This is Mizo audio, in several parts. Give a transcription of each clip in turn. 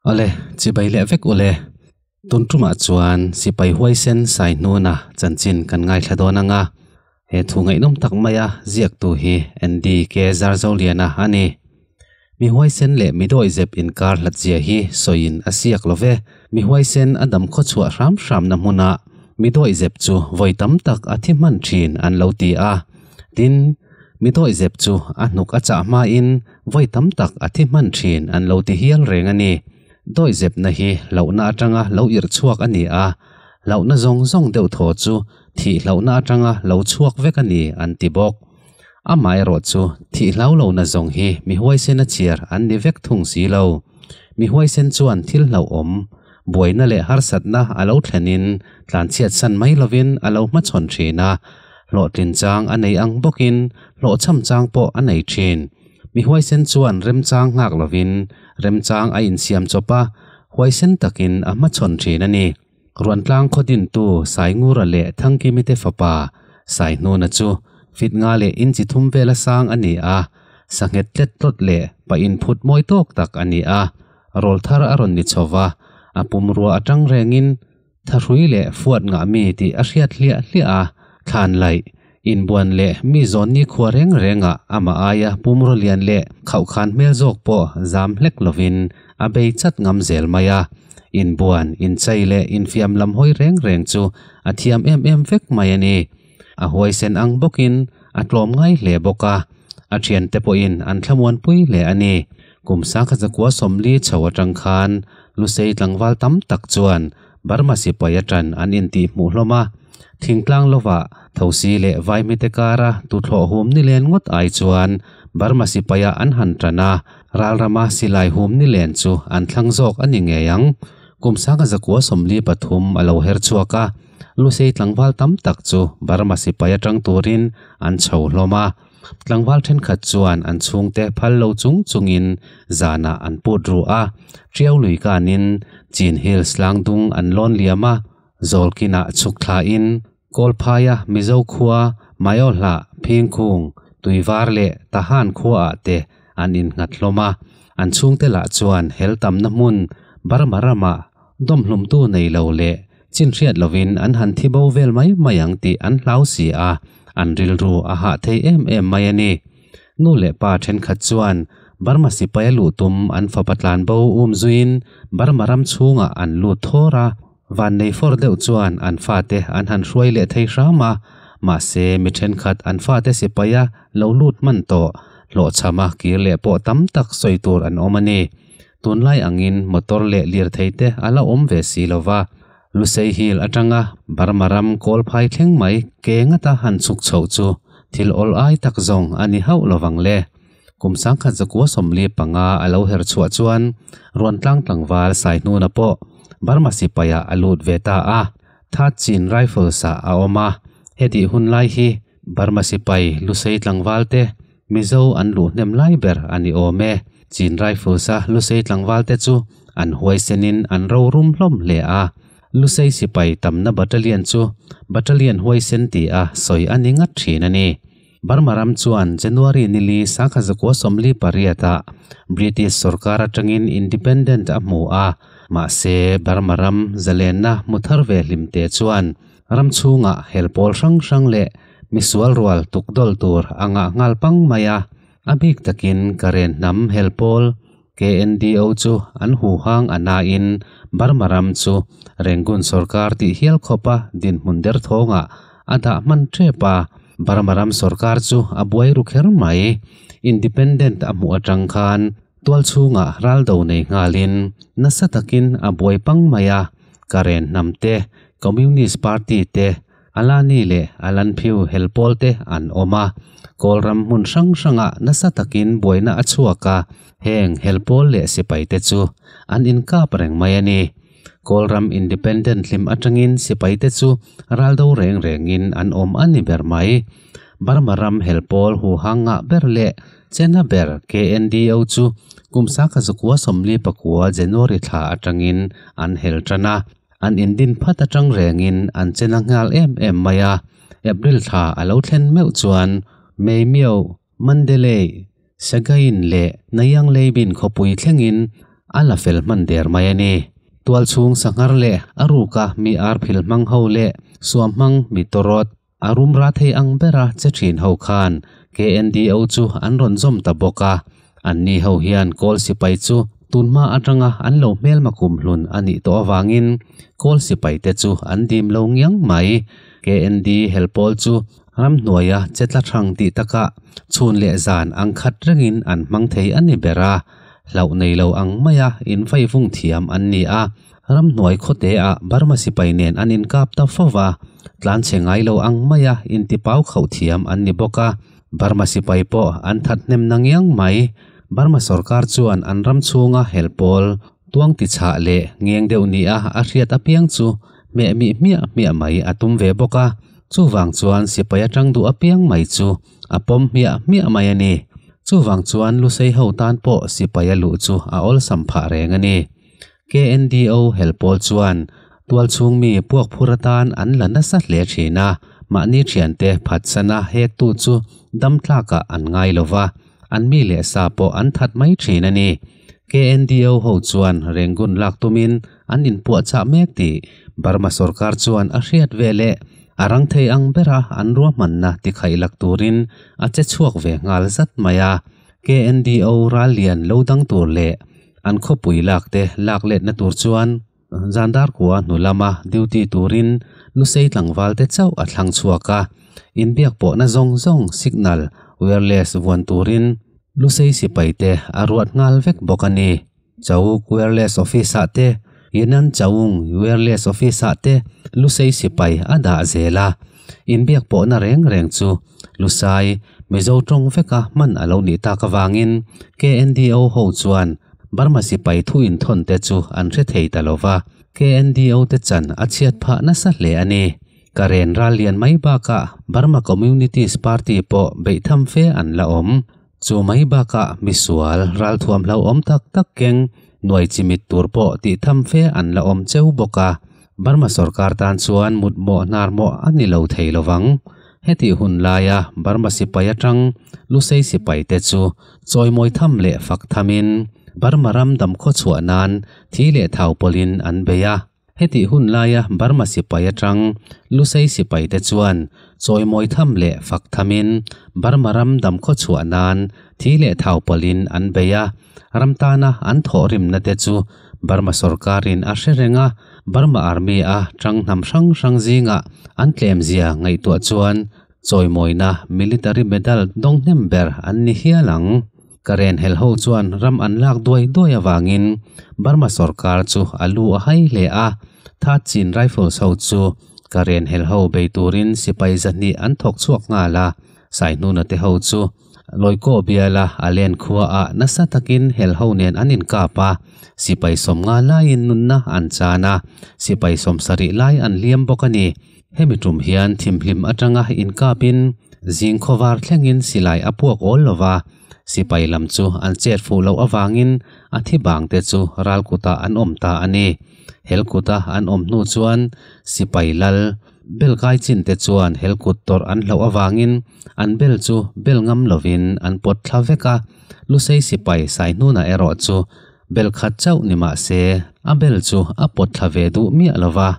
Awle, chibai leh vek ule. Tun tumah chuan sipai huaisen sai hnuna chanchin kan ngaithla dawn anga, he thu ngaihnawm tak maia ziaktu hi Andy KZarZoliana a ni. Mi huaisen leh mi dawi zep inkar hlatchia hi sawiin a siak lo ve. Mi huaisen a dam khawchhuah hram hramna hmunah mi dawi zep chu vawi tam tak a thi hman thin an lo ti a. Tin, mi dawi zep chu a hnuk a chah hmain vawi tam tak a thi hman thin an lo ti hial reng a ni. Dawi zepna hi hlauhna atanga lo irh chhuak a ni a, hlauhna zawng zawng deuh thaw chu thih hlauhna atanga lo chhuak vek a ni an ti bawk. Amaherawh chu, thih hlau lohna zawng hi mi huaisena chhiar an ni vek thung si lo. Mi huaisen chuan thil hlauhawm, buaina leh harsatna a lo thlenin tlanchhiatsan mai lovin a lo hmachhawn thin a. Hlawhtlin chang a nei ang bawkin hlawhchham chang pawh a nei thin. Mi huaisen chuan remchang nghak lovin remchang a insiam chawp a, huaisen takin a hmachhawn thin a ni. Ruantlang khaw dintu Saingura leh Thangkimite fapa Saihnuna chu fitnga leh inchi thum vel a sang a ni a, sanghet tlet tlawt leh pa inphut mawi tawk tak a ni a. Rawl thar a rawn ni chho va, a pumrua a ṭang rengin tha hrui leh fuat ngah mi tih a hriat hliah hliah a, thlan laih. Inbuan leh mi zawn nikhua reng rengah amah aia pumraw lian leh khauhkhan hmel zawk pawh zam hlek lovin a bei chat ngam zel mai a. Inbuan, inchei leh infiam lam hawi reng reng chu a thiam em em vek mai a ni. A huaisen ang bawkin a tlawm ngai hle bawk a, a thiante pawhin an thlamuan pui hle a ni. Kum sakha zakua sawmli chho atang khan Lusei tlangval tam tak chuan Burma sipai aṭan an intih hmuh hlawm a, thingtlang lova thosi leh vai mite kara tuthlawh hum ni len ngawt ai chuan Burma sipaia an han ṭan a, ralrama silai hum ni len chu an thlang zawk a ni ngei ang. Kum sanga zakua sawmli pathum a lo her chhuak a, lusei tlangval tam tak chu Burma sipai aṭang turin an chho hlawm a, Tlangval thenkhat chuan an chhungte phal lo chung chungin zanah an put ru a. Tiau lui kanin Chin Hills Tlangdung an lawn liam a, Zawlkinah chhuk thlain Kawlphaia Mizo khua, Mayawhlah, Phingkhung, Tuivar leh Tahan khuaah te an innghat hlawm a. An chhungte lah chuan hel tamna hmun Burma ramah dawmhlumtu nei lo leh Chin hriat lovin an han thi bo vel mai mai ang tih an hlau si a, an rilru a hah thei em em mai a ni. Nu leh pa ṭhenkhat chuan Burma sipaia luh tum an fapa tlan bo um zuiin Burma ram chhungah an lut thawr a, vannei fawr deuh chuan an fate an han hruai leh thei hram a, mahse mi ṭhenkhat an fate sipaia lo lut hman tawh hlawhchhama kir leh pawh tam tak sawi tur an awm a ni. Tunlai angin motor leh lirthei te a la awm ve si lo va, Lusaihil atanga Burma ram kawl phai thleng mai ke ngata han chhuk chhoh chu thil awl ai tak zawng a ni hauh lovang le. Kum sangkhat zakua sawmli panga a lo her chhuah chuan Ruantlang tlangval sai hnuna pawh Burma sipai ah a lut ve ta a, Thatchin Rifles ah a awm a, hetih hunlai hi Burma sipai hlusei tlangval te Mizo an luh hnem lai ber a ni awm e. Chin Rifles a hlusei tlangval te chu an huaisen in an ro rum hlawm hle a. Hlusei sipai tamna battalion chu Battalion Huaisen tih a sawi a ni ngat thin a ni. Burma ram chuan January nili sakha zakua sawmli pariat ah British sorkar atang in independent a hmu a, mahse Burma ram zalenna hmu thar ve hlim te chuan Ram chhunga hel pawl hrang hrang leh mi sual rual tuk dawl tur a ngah nghal pang mai a, a bik takin Karen hnam hel pawl KNDO chu an huhang a nain Burma ram chu Rangoon sawrkar tih hial khawpa dinhmun der thawngah a dah hman ṭep a, Burma ram sawrkar chu a buai ru kher mai. Independent a hmuh aṭang khan Tual chhungah ral do nei nghalin nasa takin a buai pang mai a, Karen hnam te, Communist Party te, Alani leh Alanphiu hel pawl te an awm a. Kawlram hmun hrang hrangah nasa takin buaina a chhuak a, heng hel pawl leh sipai te chu an inkap reng mai a ni. Kawlram Independent hlim atangin sipaite chu ral do reng rengin an awm a ni ber mai. Burma ram hel pawl huhang ngah ber leh chena ber KNDO chu kum Saka zakua sawmli pakua January thla atangin an hel tan a, an indin phat atang rengin an chena nghal em em mai a. April thla a lo thlen meuh chuan May miauh, Mandalay, Sagaing leh Nayang Leibin khawpui thlengin a la fel hman der mai a ni. Tualchhung sanghar leh a ruka mi arphil hmang ho leh suam hmang mi tawrawt a rum ra thei ang bera che thin ho khan KNDO chu an rawn zawm ta bawk a, an ni ho hian Kawl Sipai chu tunhma atanga an lo hmelma kum hlun a nih tawh avangin Kawl Sipai te chu an dim lo ngiang mai. KND helpawl chu Ramhnuaia che tla hrang tih taka chhun leh zan ang khat rengin an hmang thei a ni ber a, hlauh nei lo ang maia invaivung thiam an ni a. Ramhnuai khawte a Burma sipai nen an inkap ta fo va, tlan che ngai lo ang maia intipau khauh thiam an ni bawk a. Burma sipai pawh an thathnem na ngiang mai. Burma sorkar chuan an ram chhunga hel pawl tuang ti chhah leh ngeng deuh nia a hriat apiang chu hmeh mi hmiah hmiah mai a tum ve bawk a. Chuvang chuan sipai atang duh apiang mai chu a pawm hmiah hmiah mai a ni. Chuvang chuan Lusei ho tan pawh sipai a luh chu a awlsam phah reng a ni. KNDO hel pawl chuan tual chhung mi puakphur atan an la nasa hle thin a, mahni thiante phatsana hektu chu damtlakah an ngai lo va, an mi leh sa pawh an that mai thin a ni. KNDO ho chuan renggun lak tumin an inpuahchah mek tih Burma sorkar chuan a hriat ve leh a rangthei ang bera an ruahmanna tikhaih lak turin a che chhuak ve nghal zat mai a. KNDO ral lian lo dang tur leh an khawpui lak te lak letna tur chuan Zandar kua hnu lama duty turin lusei tlangval te chauh a thlang chhuak a, inbiak pawhna zawng zawng signal wireless vuan turin lusei sipai te a ruat nghal vek bawk a ni. Chawuk wireless office ah te, Yinan Chawung wireless office ah te Lusei sipai a dah zel a. Inbiak pawhna reng reng chu Lusai, Mizo tawng veka hman a lo nih tak avangin KNDO ho chuan Burma sipai thu inthawn te chu an hre thei ta lo va, KNDO te chan a chhiat phah nasa hle a ni. Ka ren ral lian mai bakah Burma Communities Party pawh beih tham fe an la awm. Chu mai bakah misual ralthuam hlau awm tak tak keng nuai chi mit tur pawh tih tham fe an la awm cheu bawk a. Burma sorkar tan chuan mutmawh hnarmawh a ni lo thei lovang. Heti hun laia Burma sipai atang Lusei sipai te chu chawimawi tham leh fak thamin Burma ram damkhawchhuah nan thi leh thau pawlhin an bei a. Hetih hun laia Burma sipai atang Lusei sipai te chuan chawimawi tham leh fak thamin Burma ram dam khaw chhuah nan thi leh thau pawlhin an bei a, ram tana an thawhrimna te chu Burma sorkarin a hre reng a, Burma Army-a tang hnam hrang hrang zingah an tlemzia ngaihtuah chuan Chawimawina Military Medal dawng hnem ber an ni hial ang. Karen hel ho chuan ram an lak duai duai avangin Burma sawrkar chu a lu a hai hle a. Tha Chin Rifles ho chu Karen hel ho bei turin sipai zahnih an thawk chhuak nghal a. Saihnuna te ho chu Loikaw biala a len khuaah nasa takin hel ho nen an inkap a. Sipai sawm ngalaiin nunna an chan a, sipai sawmsa rih lai an hliam bawk a ni. Hemi tum hian thim hlim atanga inkapin zing khaw var thlengin silai a puak awl lova, sipai lam chu an chet fuh loh avangin a thi bangte chu ral kutah an awm ta a ni. Hel kuta an awm hnu chuan sipai lal, bel kai chinte chuan hel kut tawrh an hlauh avangin an bel chu bel ngam lovin an pawt thla vek a. Lusei sipai Saihnuna erawh chu bel khat chauh ni mahse a bel chu a pawt thla ve duh miah lova.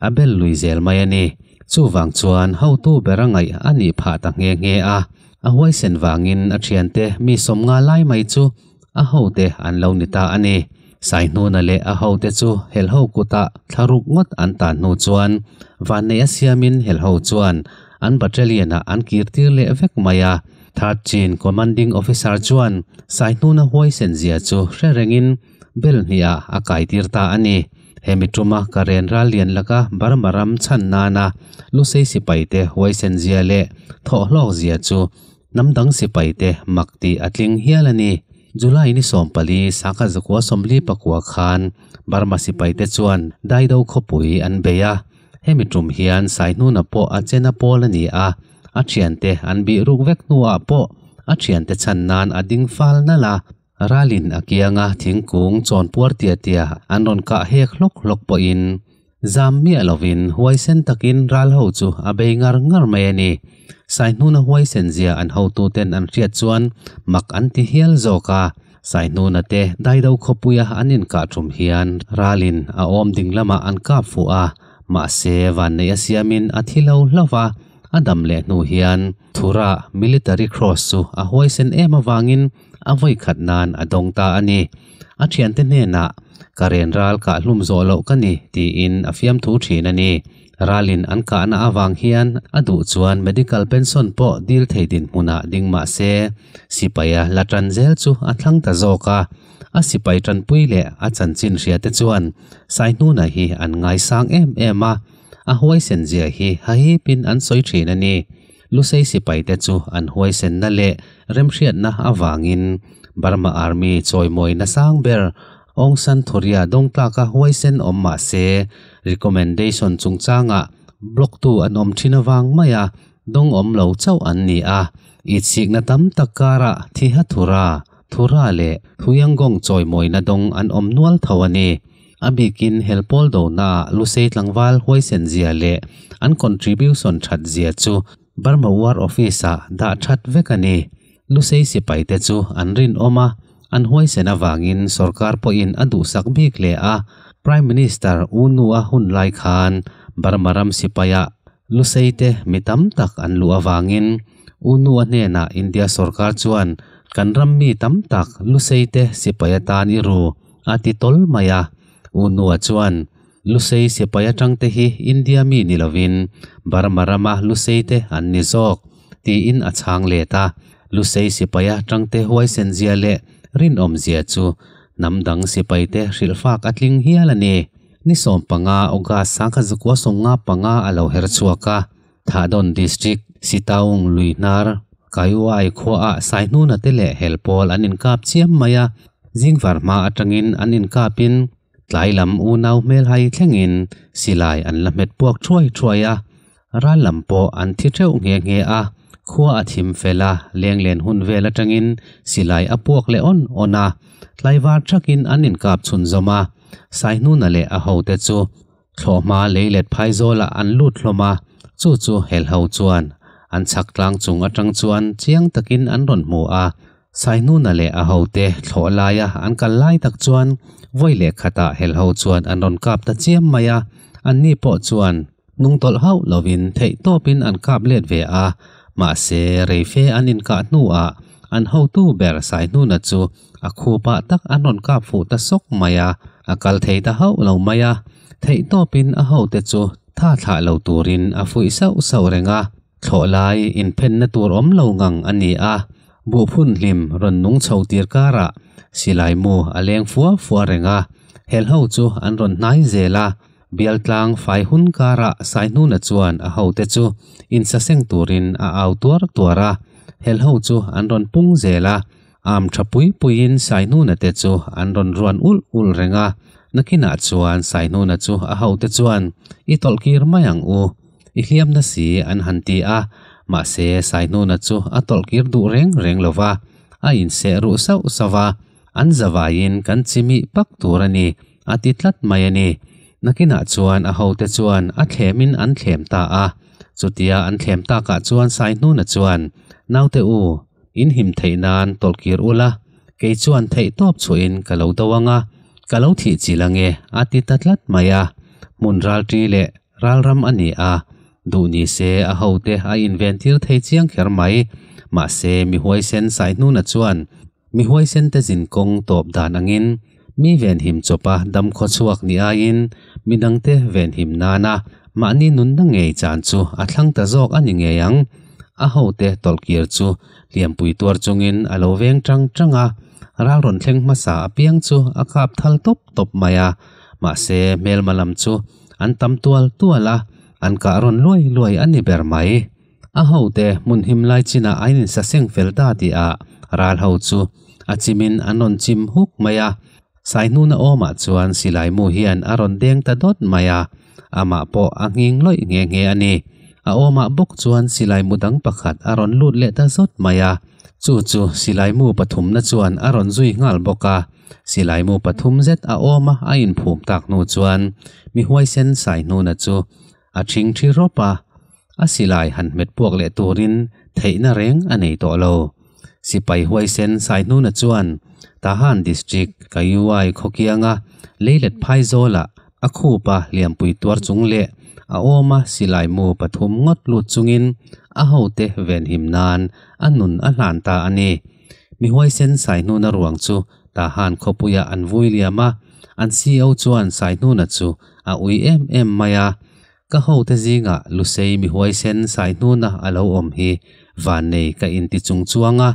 a bel lui zel mai a ni. Chuvang chuan hotu ber a ngaih a nih phah ta nghe nghe a, a huaisen vangin a thiante mi sawm nga lai mai chu a hote an lo ni ta a ni. Saihnuna leh a hote chu helho kutah thla ruk ngawt an tan hnu chuan vanneih a siamin helho chuan an battalion-ah an kir tir leh vek mai a. Third Chin Commanding Officer chuan Saihnuna huaisen zia chu hre rengin bel hniha a kai tir ta a ni. Hemi tuma ka renral lian lak a, Burma ram chhan nana Lusei sipaite huaisen zia leh thawh hlawk zia chu hnamdang sipaite mak tih a tling hial a ni. July ni sawmpali sangha zakua sawmli pakua khan Burma sipaite chuan Daido khawpui an bei a, hemi tum hian saihnuna pawh a chen a pawl a ni a, a thiante an bih ruk vek hnuah pawh a thiante chhan nan a ding fal nal a. Ralin a kianga thingkung chawn puar tiah tiah an rawn kah hek hlawk hlawk pawhin zam miah lovin huaisen takin ral ho chu a bei ngar ngar mai a ni. Saihnuna huaisen zia an hotuten an hriat chuan mak an ti hial zawk a. Saihnuna te Daido khawpuia an inkah thum hian Ralin a awm ding lamah an kap fuh a, mahse vanneih a siamin a thi lo hlauh a, a dam leh hnu hian, Thura Military Cross chu a huaisen em avangin a vawikhat nan a dawng ta a ni. A thiante hnenah, Ka ren ral kah hlum zawh loh ka ni, tiin a fiamthu thin a ni. Ralin an kahna avang hian a duh chuan medical pension pawh dil thei dinhmun ah ding mah se, sipai a la tan zel chu a thlang ta zawk a. A sipai tanpui leh a chanchin hria te chuan Saihnuna hi an ngaisang em em a. A huaisen zia hi hahip in an sawi thin a ni. Lusei sipai te chu an huaisenna leh remhriatna avang in Burma Army chawimawina sang ber Aung San Thuria dawngtlak a huaisen awm mah se, recommendation chungchang ah block tu an awm thin avang mai a, dawng awm lo chauh an ni a. Itsikna tam tak kar ah Thiha Thura, Thura leh Thuiangong chawimawina dawng an awm nual tho a ni. A bikin hel pawl donaah Lusei tlangval huaisen zia leh an contribution that zia chu Burma War Office ah dah that vek a ni. Lusei sipai te chu an rinawm a, an huaisen avangin sorkar pawhin a duhsak bik leh a. Prime Minister U Nua hun lai khan Burma ram sipai ah Luseite mi tam tak an luh avangin Unua hnenah India sorkar chuan kan ram mi tam tak Luseite sipai atan i ru a ti tawl mai a. Unua chuan Lusei sipai atangte hi India mi ni lovin Burma rama Luseite an ni zawk tiin a chhang let a. Lusei sipai a tangte huaisen zia leh rinawm zia chu hnam dang sipaite hrilh fak a tling hial a ni. Ni sawm panga August sangkhat zakua sawm nga panga a lo her chhuak a, Tha Dawn District, Sitaung, Luihnar, Kaihuai khuaah Saihnuna te leh hel pawl an inkap chiam mai a, zingvar hma atangin an inkapin tlai lam unau hmelhai thlengin silai an la hmet puak thuai thuai a, Ral lam pawh an thi teuh nghe nghe a, khua a thim fel a, lenglen hun vel atangin silai a puak leh awn awn a. Tlaivar thakin an inkap chhunzawm a, Saihnuna leh a hote chu thlawh hma lei let phai zawlah an lut hlawm a, chu chu hel ho chuan an chhak tlang chung atang chuan chiang takin an rawn hmu a. Saihnuna leh a hote thlawh laia an kal lai tak chuan vawi leh khatah hel ho chuan an rawn kap ta chiam mai a, anni pawh chuan hnung tawlh hauh lovin theih tawpin an kap let ve a, mahse, reife an inkah hnuah an hotu ber Sainuna chu a khupa tak an rawn kap fuh ta sawk mai a, a kal thei ta hauh lo mai a, theih tawpin a hote chu tha thlah lo turin a fuih sauh sauh reng a, thlawh lai inphenna tur awm lo ngang a ni a, buhphun hlim rawn nung chho tir karah Silaimu a leng fuah fuah reng a, he hlo chu an rawn hnai zel a. Bialtlang fai hun kara Sainhuna chuan a hote chu insaseng turin a au tuar tuar a, hel ho chu an rawn pung zel a, am tha pui puiin Sainhuna te chu an rawn ruan ulh ulh reng a, nakinah chuan Sainhuna chu a hote chuan I tawlh kir mai ang u, I hliam na si an han ti a, mahse Sainhuna chu a tawlh kir duh reng reng lo va, a inseh ruh sauh sauh a, an zavaiin kan chimi pak tur a ni. A ti tlat mai a ni. Nakinah chuan a hote chuan a thlemin an thlem ta a. Chutia an thlem takah chuan Saihnuna chuan, Naute u, in him theih nan tawlh kir ula, kei chuan theih tawp chhuahin ka lo do ang a, ka lo thih chilh ang e, a ti ta tlat mai a. Hmun ralṭi leh ralram a ni a, duh ni se a hote a inventir thei chiang kher mai. Mahse, mi huaisen Saihnuna chuan Mi huaisente zin kawng tawp dan angin mi venhim chawpa dam khaw chhuak ni aiin midangte venhim nana mahni nunna ngei chan chu a thlang ta zawk a ni ngei ang. A hote tawlh kir chu hliampui tuar chungin a lo veng ṭang ṭang a, ral rawn thleng hmasa a piang chu a kap thal tawp tawp mai a, mahse hmelma lam chu an tam tual tual a, an kah rawn luai luai a ni ber mai. A ho te hmun him lai chinah an insa seng fel ta tih a ral ho chu a chimin an rawn chim huk mai a. Sai hnuna awmah chuan Silaimu hian a rawn deng ta dawt mai a, amah pawh a nghing lawih nghe nghe a ni. A awmah bawk chuan Silaimu dang pakhat a rawn lut leh ta zawt mai a, chu chu Silaimu pathumna chuan a rawn zui nghal bawk a. Silaimu pathum zet a awm a a inphum tak hnu chuan mi huaisen Sai hnuna chu a thing thi rawp a. a silai han hmet puak leh turin theihna reng a nei tawh lo. Sipai Huaisen Saihnuna chuan Tahan District, Kayuwai khawkianga Leilet Phaizawl-a a khupa liampui tuar chung leh a awma silai mu pathum ngawt lut chungin a hote venhim nan a nun a hlan ta a ni. Mi Huaisen Saihnuna ruang chu Tahan khawpuiah an vui liam a, an CEO chuan Saihnuna chu a ui em em mai a. Ka hote zingah Lusei mi huaisen sai hnuna a lo awm hi vannei ka inti chung chuang a,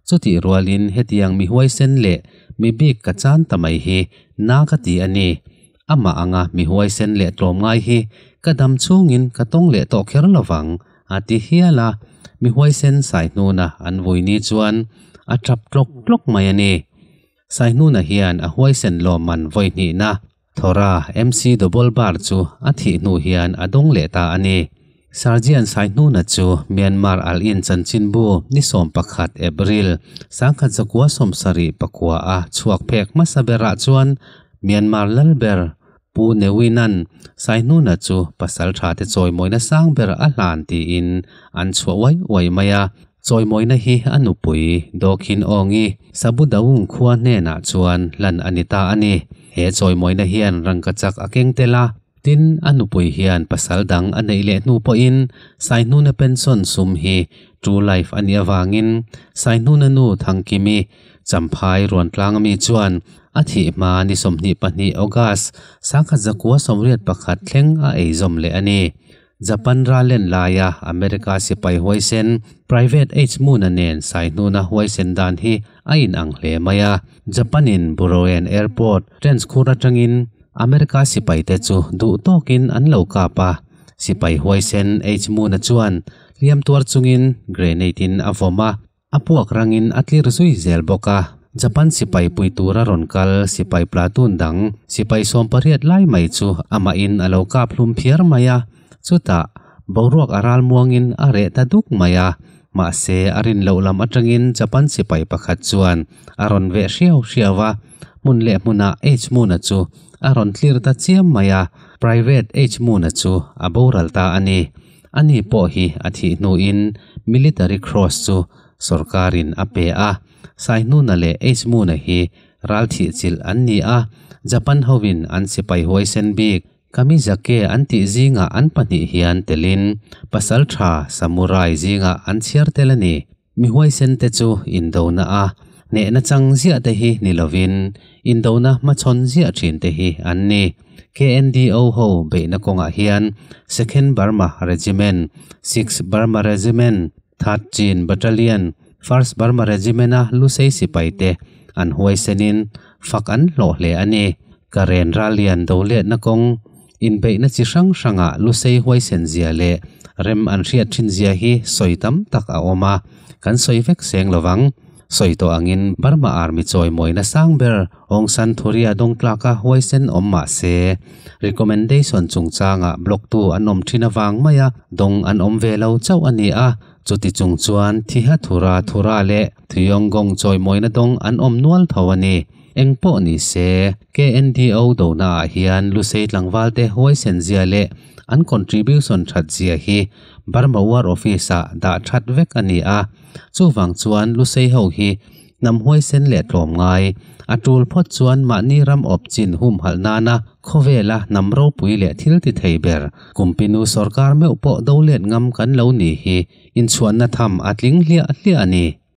chutih rualin hetiang mi huaisen leh mi bik ka chan ta mai hi na ka ti a ni. Amah anga mi huaisen leh tlawm ngai hi ka dam chungin ka tawng leh tawh kher lovang, a ti hial a. Mi huaisen sai hnuna an vui ni chuan a tap tlawk tlawk mai a ni. Sai hnuna hian a huaisen lawmman vawi hnihna. Thawra, MC Dobol Bar chu a thih hnu hian a dawng leh ta a ni. Sergeant Saihnuna chu Myanmar Al In Chanchinbu ni sawm pakhat, April, sangkhat zakua sawm sarih pakua a chhuak phek hmasa berah chuan Myanmar lal ber Pu Newinan Saihnuna chu pasal tha te chawi mawina sang ber a hlan tiin an chhuah uai uai mai a. Chawimawina hi a nupui Dawkin Awngi Sabu Daung khua hnenah chuan hlan a ni ta a ni. He chawimawina hian rangkachak a keng tel a, tin, a nupui hian pasal dang a neih leh hnu pawhin Saihnuna pension sum hi True Life a nih avangin Saihnuna nu Thangkimi Champhai Ruantlang mi chuan a thih hma ni sawmhnih pahnih August sangkhat zakua sawmriat pakhat thleng a ei zawm leh a ni. Japan ralen laia America sipai huaisen, private age muna nen saihnuna huaisen dan hi a inang hle mai a. Japan-in Burouen Airport trenchkhur atangin America sipaite chu duh tawkin an lo kap a, sipai huaisen age muna chuan hliam tuar chungin grenade-in a vawm a, A puak rangin a tlir zui zel bawk a, Japan sipai pui tura rawn kal sipai platoon dang sipai sawmpariat lai mai chu amahin a lo kap hlum phiar mai a, chutah boruak a ral muangin a reh ta duk mai a, mahse a rin loh lam atangin Japan sipai pakhat chuan a rawn veh hriau hriau a, hmun leh hmunah H Moon-a chu a rawn tlir ta chiam mai a, Private H Moon-a chu a boral ta a ni. Ani pawh hi a thih hnuin Military Cross chu sorkarin a pe a. Saihnuna leh Eismuna hi ral thih chilh an ni a, Japan hovin an sipai huaisen bik, Kamizake an tih zingah an pahnih hian telin pasal tha, samurai, zingah an chhiar tel a ni. Mi huaisente chu indona a hnehna chang ziah te hi ni lovin indona hmachhawn ziah thin te hi an ni. KNDO ho beihna kawngah hian Second Burma Regiment, Six Burma Regiment, Third Chin Battalion, First Burma Regiment-a lusei sipai te an huaisenin fak an hlawh hle a ni. Ka ren rallian do letna kawng. Inbeihna chi hrang hrangah lusei huaisen zia leh rem an hriat thin zia hi sawi tam tak a awm a, kan sawi vek seng lo vang. Sawi tawh angin Burma Army chawimawi nasang ber Aung San Thuri a dawngtlak a huaisen awm mah se, recommendation chungchangah block tu an awm thin avang mai a, dawng an awm ve lo chauh a ni a, chuti chung chuan Thiha Thura, Thura leh. Thuyawngawng chawimawina dawng an awm nual tho a ni. Engpawh ni se, KNDO dona ah hian Lusei tlangval te huaisen zia leh an contribution that zia hi Burma War Office ah dah that vek a ni a. Chuvang chuan Lusei ho hi hnam huaisen leh tlawm ngai a tul phawt chuan mahni ram awp chin humhalh nana khawvel a hnam ropui leh thil ti thei ber kumpinu sorkar meuh pawh dolet ngam kan lo nih hi inchhuanna tham a tling hliah hliah a ni.